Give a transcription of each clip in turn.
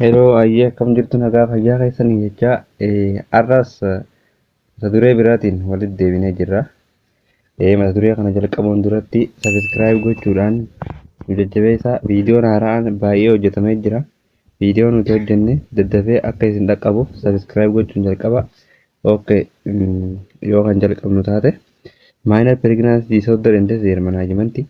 Heloo ayyee akkam jirtu nagaa fayyaa keessanii jechaa har'as mata duree biraatiin walitti deebinee jirra. Mata duree kana jalqabuun duratti sabiskiraayib gochuudhaan nu jajjabeessaa viidiyoon haaraan baay'ee hojjetamee jira. Viidiyoo nuti hojjenne daddafee akka isin dhaqqabuuf sabiskiraayib gochuun jalqaba. Okay yoo kan jalqabnu taate maayinal pireeginaansi diisoordar indees heermanaajimanti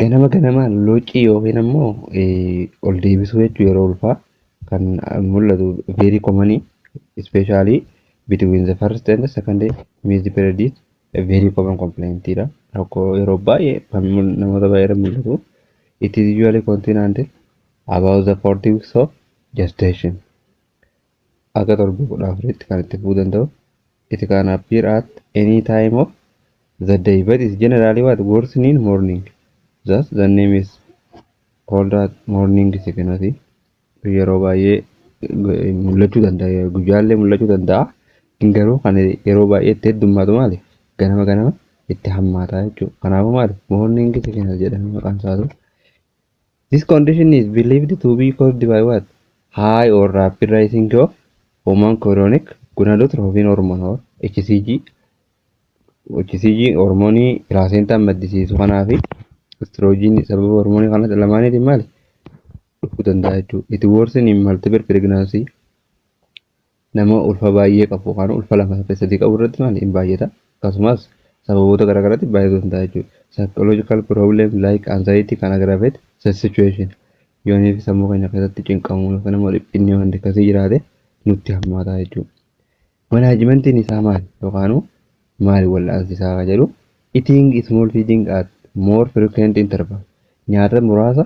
Ganama ganamaan looccii yookiin ammoo ol deebisuu jechuun yeroo ulfaa kan mul'atu very common especially between the first and second missed period is a very common complaint dha. Rakkoo yeroo baay'ee kan namoota baay'ee irratti mul'atu. It is usually continued until about the 40 weeks of gestation. Haga torbee 14tti kan itti fufuu danda'u. It can appear at any time of the day but is generally what worsen in morning. Thus the name is called at morning sickness. Yeroo baay'ee mul'achuu danda'a. Guyyaallee mul'achuu danda'a. Inni garuu kan yeroo baay'ee itti heddummaatu maali? Ganama ganama itti hammaataa jechuudha. Kanaafuu maali? Morning sickness jedhamee maqaan isaatu This condition is believed to be caused by what? High or rapid rising of hormone chorionic gonadotropin hormone or HCG. HCG hormoonii pilaasentaan maddisiisu kanaa fi estrogen sababa hormoonii kana lamaaniitiin maali? Dhufuu danda'a jechuudha. It worsen in multiple pregnancy. Nama ulfa baay'ee qabu yookaan ulfa lama saddeet sadii qabu irratti maal hin baay'ata akkasumas sababoota garaa garaatti baay'atu hin ta'a jechuudha. Psychological problem like anxiety can aggravate such situation. Yoonii fi sammuu keenya keessatti cinqamuu yookaan immoo dhiphinni waan akkasii jiraate nutti hammaataa jechuudha. Manaajimentiin isaa maal yookaan maal wal'aansi isaa kan jedhu eating small feeding at more frequent interval nyaata muraasa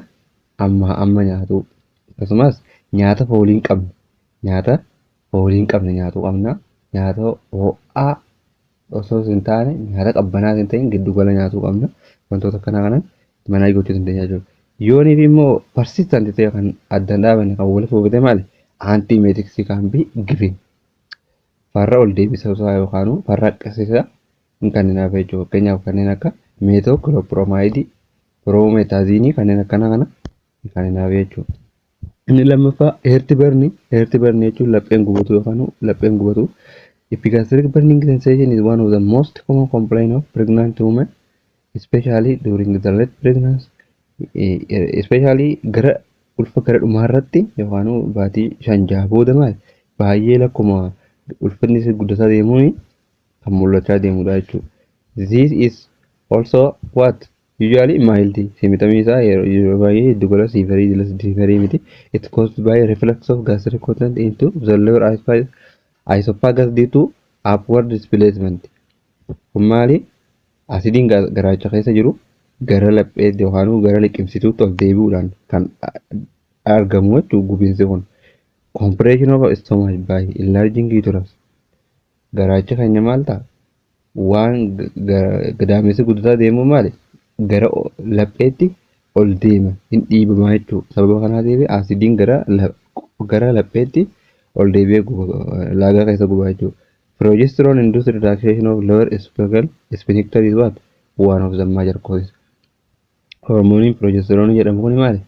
ammaa amma nyaatuu akkasumas nyaata foolii hin qabne Nyaata foolii hin qabne nyaatu qabna. Nyaata ho'aa osoos hin taane nyaata qabbanaas hin ta'in giddu gala nyaatuu qabna. Wantoota akkanaa kanan manaa gochuu dandeenya jechuudha. Yoonii fi immoo persistant ta'e kan adda hin dhaabanne kan walitti fufate maali? Antiemetics can be given. Farra ol deebisa isaa yookaan farra akkasiisa hin kenninaaf jechuudha. Fakkeenyaaf kanneen akka meetoo kiloopiromaayidii, piroomeetaaziinii kanneen akkanaa kana hin kenninaaf jechuudha. Inni lammaffaa heerti barni heerti barni jechuun lapheen gubatu yookaan lapheen gubatu. Epigastric burning sensation is one of the most common complaint of pregnant women especially during the late pregnancy especially gara ulfa gara dhumaa irratti yookaan baatii shan jaha booda maal baay'ee lakkuma ulfinni isii guddataa deemuun kan mul'achaa deemudha jechuudha. This is also what Usually mild fi mitamii isaa yeroo baay'ee giddu gala severe jala severe miti. It caused by reflux of gastric content into the lower esophagus due to upward displacement. Kun maali? Asidiin garaacha keessa jiru gara laphee yookaan gara liqimsituutti ol deebi'uudhaan kan argamu jechuudha gubiinsi kun. Compression of stomach by enlarging uterus. Garaachi keenya maal ta'a? Waan gadaamessi guddataa deemu maali? Gara lapheetti ol deema, hin dhiibamaa jechuudha. Sababa kanaatiif asiidiin gara gara lapheetti ol deebi'ee guba laagaa keessa gubaa jechuudha. Progesterone induced relaxation of lower esophageal sphincter is what? One of the major causes. Hormooniin piroojesteroni jedhamu kun maali?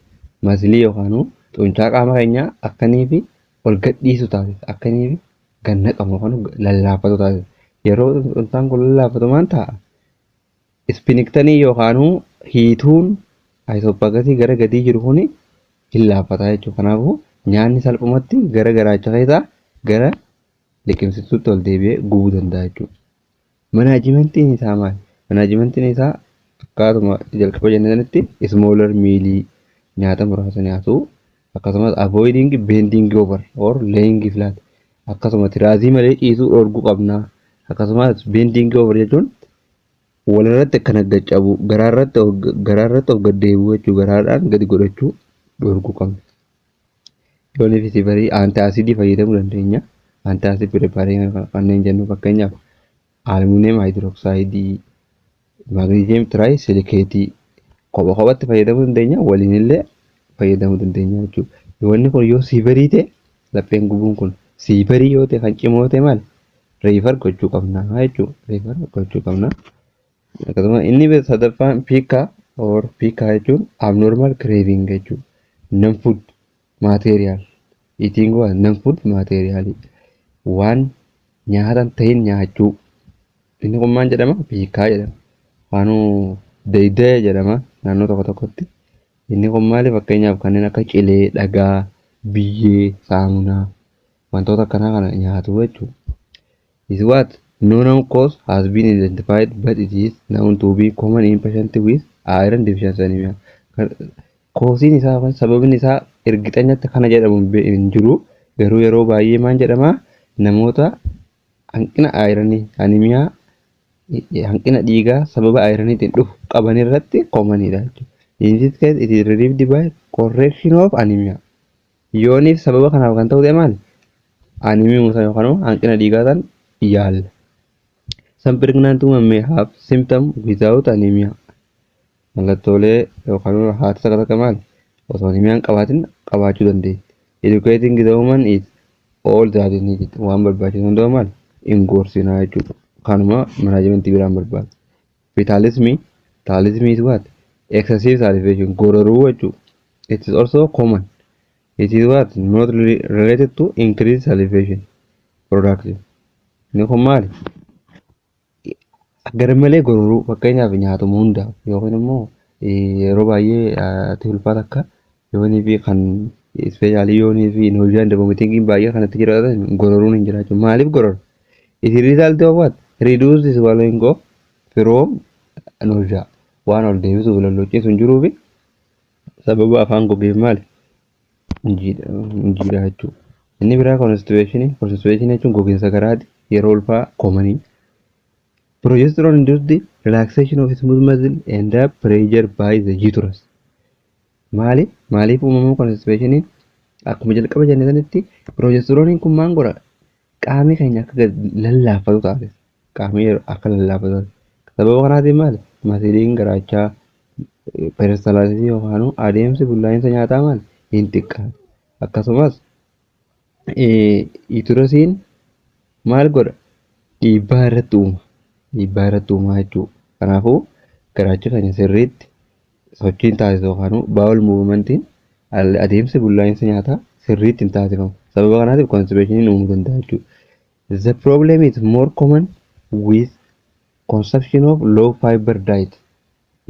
Masilii yookaan xuncaa qaama keenyaa akka inni fi ol gadhiisu taasisa. Akka inni fi gad naqamu yookaan lallaafatu taasisa. Yeroo xuncaan kun lallaafatu maal ta'a? Ispiniktanii yookaan hiituun ayisoopaagasii gara gadii jiru kun hin laaffata jechuudha. Kanaafuu nyaanni salphumatti gara garaacha keessaa gara liqimsituutti ol deebi'ee gubuu danda'a jechuudha. Manaajimentiin isaa maali? Manaajimentiin isaa akkaatuma jalqaba jenne sanitti smaller meal nyaata muraasa nyaatu akkasumas avoiding bending over or laying flat akkasuma tiraazii malee ciisuu dhoorguu qabna akkasumas bending over jechuun walirratti akka naggacabu garaarratti of gaddeebuu jechuu garaadhaan gadi godhachuu dhoorguu qabna. Yoo nefiti barii antaasidii fayyadamuu dandeenya. Antaasid preparii kanneen jennu fakkeenyaaf aluminium hydroxide, magnesium trisilicate kopha kophatti fayyadamuu dandeenya waliin illee fayyadamuu dandeenya jechuudha. Wanni kun yoo sii barii ta'e lapheen gubuun kun sii barii yoo ta'e kan cimoo ta'e maal reefar gochuu qabna jechuudha. Reefar gochuu qabna. Akkasuma inni bira sadaffaan piikka or piikka jechuun abnormal craving jechuudha. Non food material eating was non food material waan nyaata hin ta'in nyaachuu. Inni kun maal jedhama? Piikkaa jedhama. Waanuu deeydee jedhama naannoo tokko tokkotti. Inni kun maali fakkeenyaaf kanneen akka cilee, dhagaa, biyyee, saamunaa wantoota akkanaa kana nyaatu jechuudha. is what no known cause has been identified but it is known to be common in patient with iron deficiency anemia. Koosiin isaa yookaan sababni isaa ergixanyatti kana jedhamu hin jiru garuu yeroo baay'ee maal jedhama namoota hanqina ayiranii animiyaa hanqina dhiigaa sababa ayiraniitiin dhufu qaban irratti koomaniidha jechuudha. In this case it is relieved by correction of anemia. Yooniif sababa kanaaf kan ta'u ta'e maali? Anemia musan yookaan immoo hanqina dhiigaa san yaalla. Some pregnant women may have symptom without anemia. Mallattoolee yookaan immoo haati takka takka maali? Osoo anemia hin qabaatin qabaachuu dandeessi. Educating the woman is all that is needed. Waan barbaachisu hundumaa maali? Hin gorsinaa jechuudha. Kanuma manaajimentii biraan barbaada. Fitaalismii, Taalism is what? Excessive salivation, gororuu jechuu. It is also common. It is what? Not re- related to increased salivation production. Inni kun maali? Garmalee gororuu fakkeenyaaf nyaatuma hundaaf yookiin immoo eh, yeroo baay'ee eh, ati ulfaa takka Yoonii fi kan ispeeshaalii yoonii fi inhoojiyaan daboomitingiin baay'ee kanatti jiraatan gororuun hin jiraachu. Maaliif gorora? It is result of what? Reduced swallowing of from nausea. Waan ol deebisuuf lalloochiisu hin jiruu fi sababa afaan gogeef maali? Hin jiraachuu. Inni biraa constipation. Constipation jechuun gogiinsa garaati. Yeroo ulfaa komanii. Progesterone induced relaxation of smooth muscle and pressure by the uterus. Maali? Maaliif uumamuu konstipeeshiniin? Akkuma jalqaba jenne sanitti piroojestrooniin kun maal godha? Qaamni keenya akka gad lallaafatu taasisa. Qaamni yeroo akka lallaafatu taasisa. Sababa kanaatiin maali? Masiliin garaachaa peeristalaasisii yookaan adeemsi bullaa'insa nyaataa maali? Hin xiqqaata. Akkasumas Yuutirasiin maal godha? Dhiibbaa irratti uuma. Dhiibbaa irratti uuma jechuudha. Kanaafuu garaachi keenya sirriitti sochiin taasisu yookaan baawol muuvimantiin adeemsi bullaa'insa nyaataa sirriitti hin taasifamu. Sababa kanaatiif konstipeeshiniin uumuu danda'a jechuudha. The problem is more common with consumption of low fiber diet.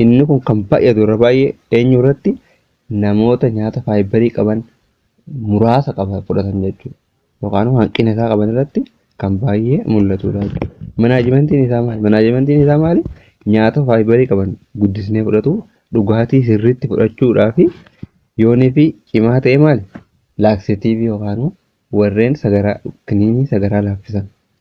Inni kun kan baay'atu irra baay'ee eenyu irratti namoota nyaata faayibarii qaban muraasa qaba fudhatan jechuudha. Yookaan immoo hanqina isaa qaban irratti kan baay'ee mul'atudha jechuudha. Manaajimentiin isaa maali? Manaajimentiin isaa maali? Nyaata faayibarii qaban guddisnee fudhatu, dhugaatii sirriitti fudhachuudhaa fi yoonii fi cimaa ta'e maali? Laaksetiivii yookaan immoo warreen sagaraa kiniinii sagaraa laaffisan.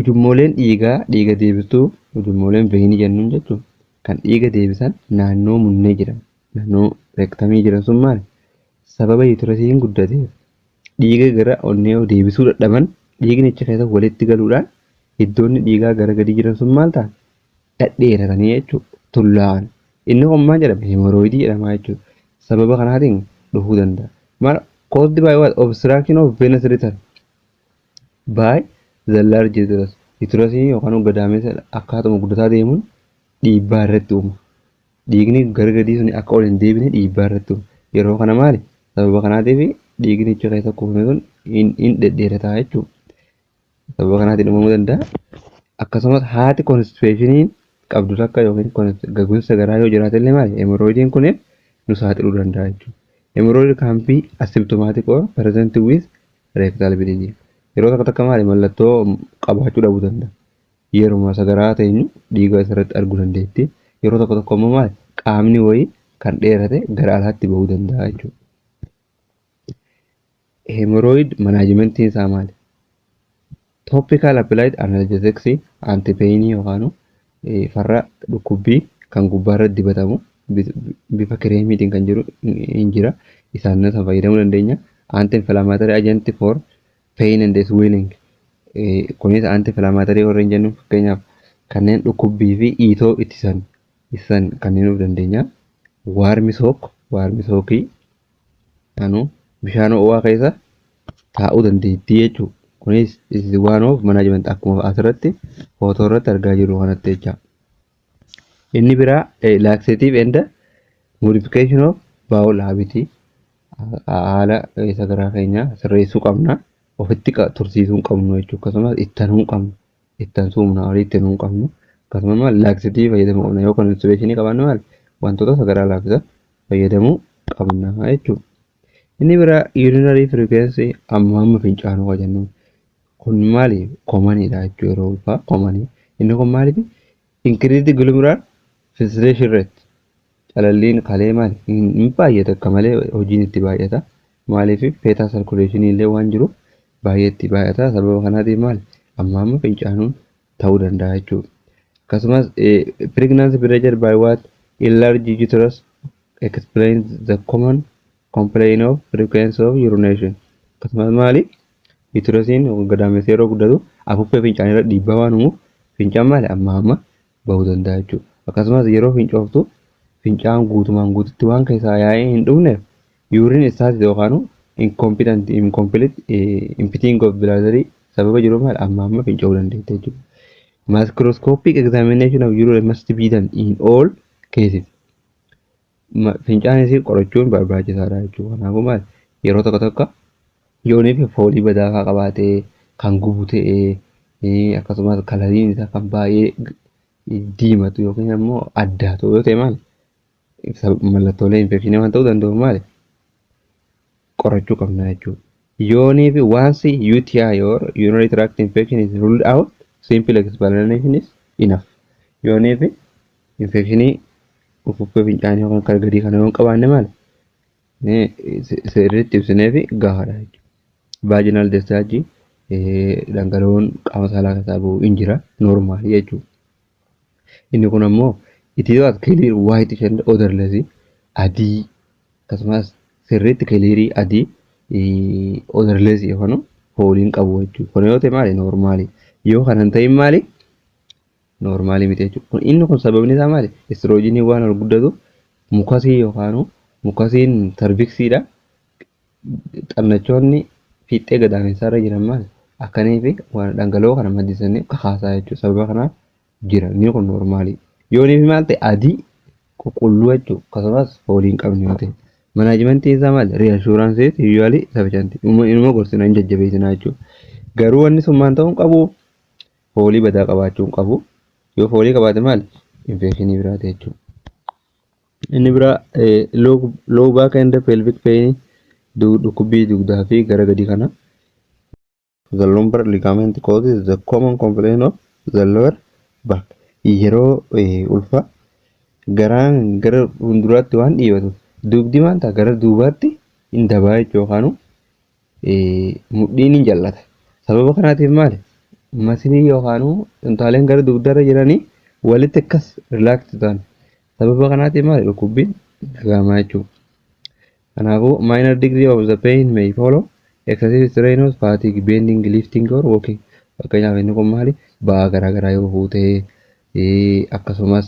Ujummooleen dhiigaa dhiiga deebistuu ujummooleen veenii jennuun jechuun kan dhiiga deebisan naannoo munnee jiran naannoo rektamii jiran sun maal sababa yuutirasiin guddateef dhiiga gara onnee deebisuu dadhaban dhiigni achi keessa walitti galuudhaan iddoonni dhiigaa gara gadii jiran sun maal ta'an dhadheeratanii jechuun tullaa'an inni kun maal jedhama hemorooyidii jedhama jechuudha sababa kanaatiin dhufuu danda'a maal caused by what obstruction of venous return by the large uterus uterusii yookaan gadaamessa akkaatuma guddataa deemuun dhiibbaa irratti uuma dhiigni gara gadii sun akka ol hin deebine dhiibbaa irratti uuma yeroo kana maali sababa kanaatiif dhiigni ichi keessa kuufame sun hin dhedheerataa jechuudha sababa kanaatiin uumamuu danda'a akkasumas haati konstipeeshiniin qabdu takka yookiin gaguunsa garaa yoo jiraate illee maali hemorrhoidiin kun nu saaxiluu danda'a jechuudha hemorrhoid can be asymptomatic or present with Rectal bleeding yeroo takka takka maali mallattoo qabaachuu dhabuu danda'a. Yeruma sagaraa teenyu dhiiga asirratti arguu dandeetti. Yeroo tokko tokko immoo maali qaamni wayii kan dheerate gara alaatti bahuu danda'a jechuudha. Hemorrhoid manaajimentiin isaa maali? Topical applied analgesics antipain yookaan farra dhukkubbii kan gubbaarra dibatamu bifa kireemiitiin kan jiru hin jira. Isaan nasa fayyadamuu dandeenya. Anti inflammatory agent for pain and swelling. Kunis anti inflammatory warreen jennu fakkeenyaaf kanneen dhukkubbii fi iitoo ittisan ittisan kanneen of dandeenya. Waarmi sook waarmi sookii Anu bishaan ho'aa keessa taa'uu dandeettii jechuudha. Kunis this is one of management akkuma asirratti footoo irratti argaa jirru kanatti jecha. Inni biraa eh, laxative and modification of bowel habit haala eh, sagaraa keenya sirreessuu qabna. Ofitti qa- tursiisuu hin qabnu jechuudha. Akkasumas ittanuu hin qabnu. itti aansu humna olii itti nuun qabnu akkasuma maal laaksitii fayyadamuu qabna yoo konstibeeshinii qabaanne maal wantoota sagaraa laaffisa fayyadamuu qabna jechuudha. Inni biraa yuurinarii firikweensii amma amma fincaanuu kan jennu kun maali komaniidha jechuudha yeroo ulfaa komanii inni kun maaliif inkiriitii gilumiraal filsireeshin reet calalliin kalee maali hin baay'ata akka malee hojiin itti baay'ata. Maaliif feetaa sarkuleeshinii illee waan jiruuf baay'ee itti baay'ata. Sababa kanaatiif maal amma amma fincaanuun ta'uu danda'a jechuudha. Akkasumas pregnancy pressure by what enlarged uterus explains the common complaint of frequency of urination. Akkasumas maali uterasiin gadaamessi yeroo guddatu afuuffee fincaanii irra dhiibbaa waan uumuuf fincaan maali amma amma bahu danda'a jechuudha. Akkasumas yeroo fincooftu fincaan guutumaan guututti waan keessaa yaa'ee hin dhumneef yuuriin istaasisi yookaan incompetent incomplete impiting of bilaadarii sababa jiru maal amma amma finca'uu dandeetti jechuudha. Microscopic examination of urine must be done in all cases. Fincaan isii qorachuun barbaachisaadha jechuudha. Kanaafuu maal yeroo tokko tokko yoonii fi foolii badaa fa'aa qabaatee kan gubu ta'ee akkasumas kalariin isaa kan baay'ee diimatu yookiin ammoo addaatu yoo ta'e maal mallattoolee infekshinii waan ta'uu danda'uuf maal qorachuu qabna jechuudha. Yoonii fi once UTI or urinary tract infection is ruled out, simple explanation is enough. Yoonii fi infekshinii ufuffee fincaanii yookaan kan gadii kana yoo hin qabaanne maal sirriitti ibsinee fi gahaadha jechuudha. Vaginal discharge dhangala'oon qaama saalaa keessaa ba'u hin jira normaali jechuudha. Inni kun ammoo it is not clear whitish and odorless adii akkasumas sirriitti kiliirii adii odorless yookaan foolii hin qabu jechuudha. Kun yoo ta'e maali noormaali yoo kana hin ta'in maali noormaali miti jechuudha. Kun inni kun sababni isaa maali istiroojiinii waan ol guddatu mukasii yookaan mukasiin sarviksiidha xannachoonni fiixxee gadaamessaa irra jiran maal akkanii fi waan dhangala'oo kana maddisanii kakaasaa jechuudha. Sababa kanaaf jira. Inni kun noormaalii. Yoonii fi maal ta'e adii qulqulluu jechuudha. Akkasumas foolii hin qabne yoo ta'e. Manaajimentiin isaa maal riyaashuuraansii yuuzuwaalii safiishantii. Inuma gorsina hin jajjabeessinaa jechuudha. Garuu wanni sun maal ta'uu hin qabu foolii badaa qabaachuu hin qabu. Yoo foolii qabaate maal infeekshinii biraati jechuudha. Inni biraa low back and pelvic pain dhukkubbii dugdaa fi gara gadii kana. The lumbar ligament causes the common complaint of the lower back. Yeroo ulfaa garaan gara fuulduraatti waan dhiibatu dugdi maal ta'a gara duubaatti hin dabaa jechuudha yookaan mudhiin hin jallata. Sababa kanaatiif maali? Masilii yookaan intaaleen gara dugdarra jiranii walitti akkas rilaakti ta'an Sababa kanaatiin maali dhukkubbiin dhaga'ama jechuudha. Kanaafuu minor degree of the pain may follow excessive strenuous fatigue, bending, lifting or walking. Fakkeenyaaf inni kun maali ba'aa garaagaraa yoo fuutee akkasumas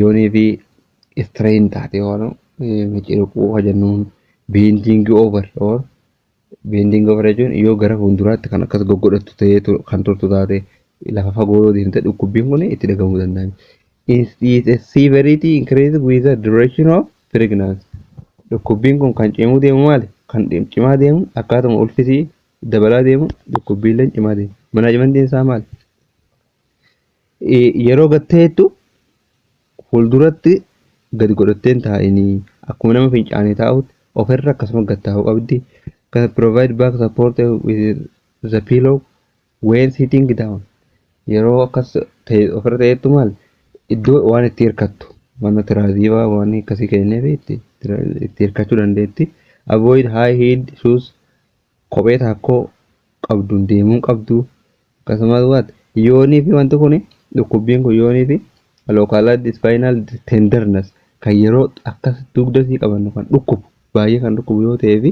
yoonii fi strain taate waan miciriquu hojjennuun bending over or Bending over jechuun yoo gara fuulduraatti kan akkas goggodhattu ta'ee tu- kan turtu taate lafa fagoo yoo deemte dhukkubbiin kun itti dhagahamuu danda'a. Is- is a severity increase with the duration of pregnancy. Dhukkubbiin kun kan cimuu deemu maali? Kan dhim- cimaa deemu akkaatuma ulfisii dabalaa deemu dhukkubbiilleen cimaa deemu. Manaajimantiin isaa maali? Yeroo gad ta'ettu fuulduratti gadi godhattee hin taa'inii akkuma nama fincaanii taa'utti ofirra akkasuma gad taa'uu qabdi. Kan provide back support with the pillow when sitting down. Yeroo akkas ta'e ofirra ta'ettu maal iddoo waan itti hirkattu mana tiraaziivaa waan akkasii kennee beekti itti hirkachuu dandeetti. Avoid high heeled shoes kophee taakkoo qabduun deemuu hin qabdu. Akkasumas what yoonii fi wanti kun dhukkubbiin kun yoonii fi localized spinal tenderness kan yeroo akka dugda sii qabannu kan dhukkubu baay'ee kan dhukkubu yoo ta'ee fi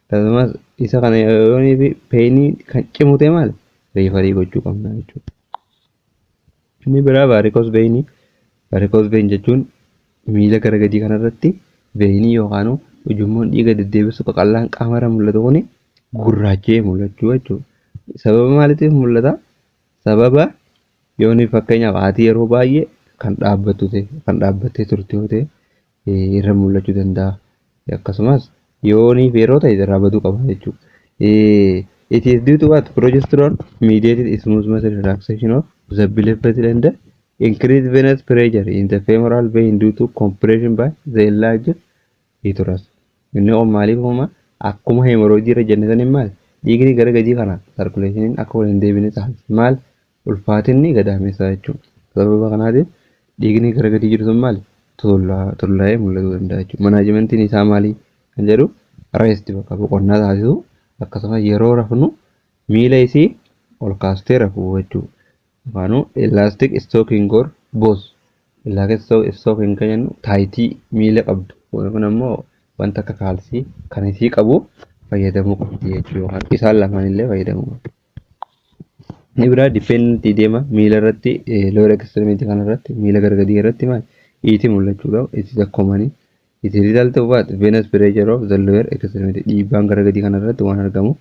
akkasumas isa kana yoonii fi peenii kan cimu ta'e maal riifarii gochuu qabna jechuudha. Inni biraa vaarikoos veeyinii. Vaarikoos veeyin jechuun miila gara gadii kanarratti veeyinii yookaan ujummoon dhiiga deddeebisu qaqallaan qaamarra mul'atu kun gurraacha'ee mul'achuu jechuudha. Sababa maaliitiif mul'ata? Sababa yooni fakkeenyaaf haati yeroo baay'ee kan dhaabbattu ta'e kan dhaabbattee turte yoo ta'e irra mul'achuu danda'a. Akkasumas yoo ni feeroo ta'e irraa baduu qaba jechuudha. It is due to what? Progesterone mediated smooth muscle relaxation of the belly vessel and increased venous pressure in the femoral vein due to compression by the enlarged uterus. Inni kun maaliif uumama? Akkuma hemorrhoid irra jenne saniin maal? Dhiigni gara gadii kana sarkuleeshiniin akka wal hin deebine taasisa. Maal? Ulfaatinni gadaameessaa jechuudha. Sababa kanaatiif dhiigni gara gadii jiru sun maali? Tuullaa, tullaa'ee mul'atuu danda'a jechuudha. Manaajimentiin isaa maali? Kan jedhu reesti bakka boqonnaa taasisuu akkasumas yeroo rafnu miila isii ol kaastee rafuu jechuudha. Afaanuu elastic stocking or both elastic stocking kan jennu taayitii miila qabdu kun ammoo wanta akka kaalsii kan isii qabu fayyadamuu qabdi jechuudha. Isaan lamaan illee fayyadamuu qabdi. Inni biraa dependent idema miila irratti lower extremity kana irratti miila gara gadii irratti maal iiti mul'achuu qaba. It is a common it is result of what venous pressure of the lower extremity dhiibbaan gara gadii kana irratti waan argamu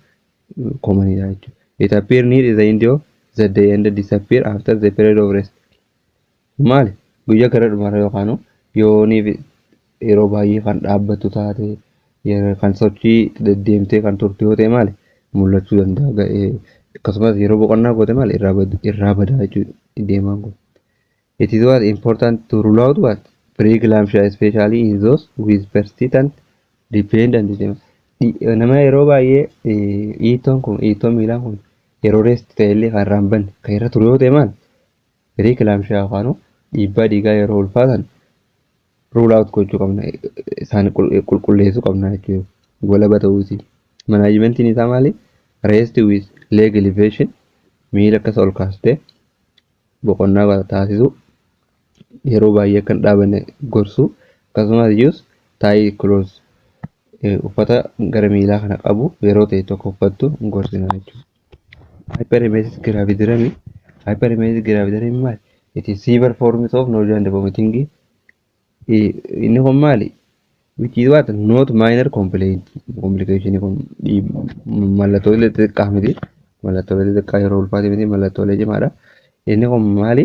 common dha jechuudha. It appear near the end of the day and disappear after the period of rest. Maali guyyaa gara dhumaarra yookaan yooniif yeroo baay'ee kan dhaabbattu taate kan sochii deddeemtee kan turte yoo ta'e maali mul'achuu danda'a ga'ee akkasumas yeroo boqonnaa goote maali irraa badaa jechuudha deemaan kun. It is what important to rule out what preeclampsia especially in those with persistent dependent nama yeroo baay'ee dhiittoon kun dhiittoon miilaa kun yeroo reessi ta'ellee kan irraa hin banne kan irra ture yoo ta'e maali Piriikilaamshiyaa yookaan dhiibbaa dhiigaa yeroo ulfaatan ruul aawut gochuu qabna isaan qulqulleessuu qabna jechuudha. Walaba ta'uu isii. Manaajimentiin isaa maali? Rest with leg elevation miila akkas ol kaastee boqonnaa taasisuu yeroo baay'ee akka hin dhaabanne gorsuu akkasumas iyyuus taayii kiloos uffata gara miilaa kana qabu yeroo ta'e tokko uffattu hin gorsinaa jechuudha. Hyperemesis gravidarum. Hyperemesis gravidarum maali? It is severe forms of nausea and vomiting. Eh, Inni kun maali? Which is what? Not minor complaint. Complication kun dhiib- mallattoolee xixiqqaa miti. Mallattoolee xixiqqaa yeroo ulfaate miti mallattoolee cimaadha. Inni kun maali?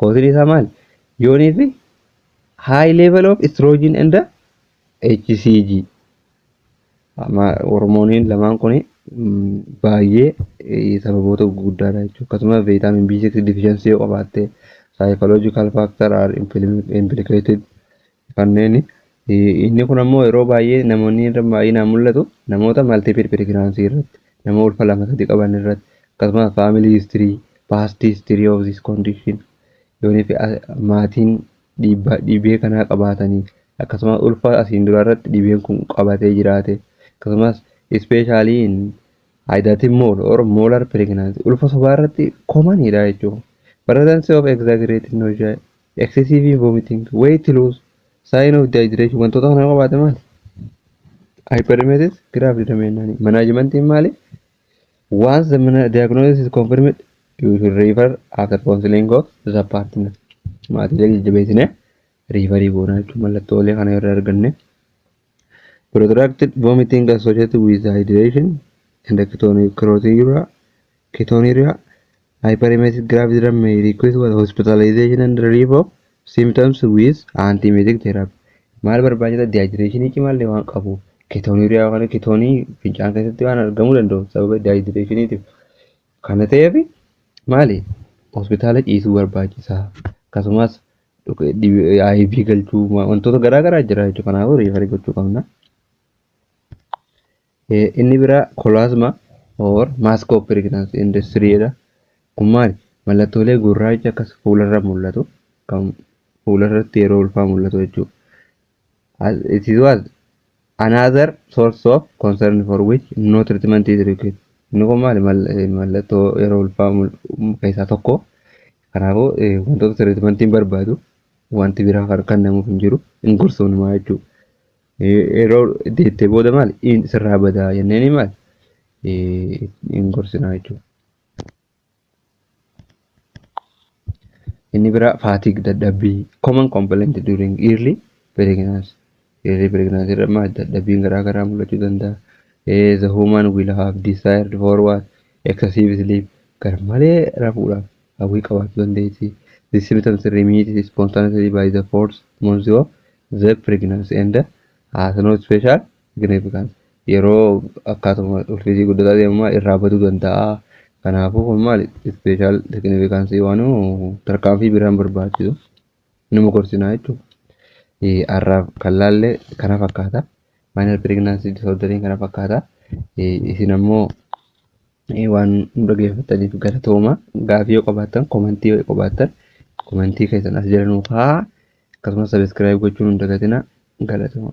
Koosni isaa maali? Yoonii fi high level of estrogen and HCG. Amma hormooniin lamaan kun baay'ee eh, sababoota gurguddaadha jechuudha. Akkasuma vitamin B6 deficiency yoo qabaatte psychological factor are implim- implicated. Kanneen inni kun ammoo yeroo baay'ee namoonni irra baay'inaan mul'atu namoota multiple pregnancy irratti nama ulfa lama sadi qaban irratti akkasumas family history past history of this condition yoonii fi maatiin dhiibbaa dhibee kanaa qabaatanii akkasumas ulfa asiin duraa irratti dhibeen kun qabatee jiraate akkasumas especially in hydatid mole or molar pregnancy ulfa sobaa irratti komaniidha jechuudha. Pregnancy of exaggerated nausea Excessive in vomiting, weight loss, sign of dehydration wantoota kana qabaate maali? Hyperemesis graft dameennaani. Manaajimantiin maali? Once the mana- diagnosis is confirmed, you should refer after counseling of the partner. Maatiilee jajjabeessinee riifarii goonaa jechuun mallattoolee kana irra arganne. Protracted vomiting associated with hydration and ketonuria, ketonuria, hyperemetic gravitygram may request what hospitalization and relief of symptoms with antiemetic therapy. Maal barbaachisa dehydration cimaallee waan qabu ketonuria yookaan ketonii fincaan keessatti waan argamuu danda'u sababa dehydratiniitiif. Kana ta'eef maali hospitaala ciisuu barbaachisa akkasumas iv galchuu wantoota garaa garaa jira jechuudha kanaafuu riifarii gochuu qabna. Inni biraa kolaasma or maaskoo piriginaansi industiriidha. Kun maali? Mallattoolee gurraacha akkas fuularra mul'atu kan fuularratti yeroo ulfaa mul'atu jechuudha. as it is was another source of concern for which no treatment is required. Inni kun maali Mal- eh, mallattoo yeroo ulfaa mul- keessaa tokko. Kanaafuu eh, wantoota treatment hin barbaadu wanti biraa kan kennamuuf hin jiru hin gorsuunumaa jechuudha. Eh, Yeroo deettee booda maali in sirraa badaa jenneen maali Eh, hin gorsinaa jechuudha. Inni biraa fatigue dadhabbii common complaint during early pregnancy. Early pregnancy irra maal dadhabbiin garaa garaa mul'achuu danda'a. Eh, The woman will have desired for what? Excessive sleep. Gar malee rafuudhaaf hawwii qabaachuu dandeessi. The symptoms remit spontaneously by the fourth month of the pregnancy and has no special significant yeroo akkaatuma ulfiisii guddataa deemumaa irraa baduu danda'a. Kanaafuu kun maali special significance waan tarkaanfii biraan barbaachisu numa gorsinaa jechuudha. Har'aaf kan laalle kana fakkaata. Minor pregnancy disorderiin kana fakkaata. Isin ammoo waan nu dhaggeeffattaniif galatooma. Gaafii yoo qabaattan komentii yoo qabaattan komentii keessan as jala nuu kaa'aa. Akkasumas sabiskiraayib gochuun hin dagatinaa galatooma.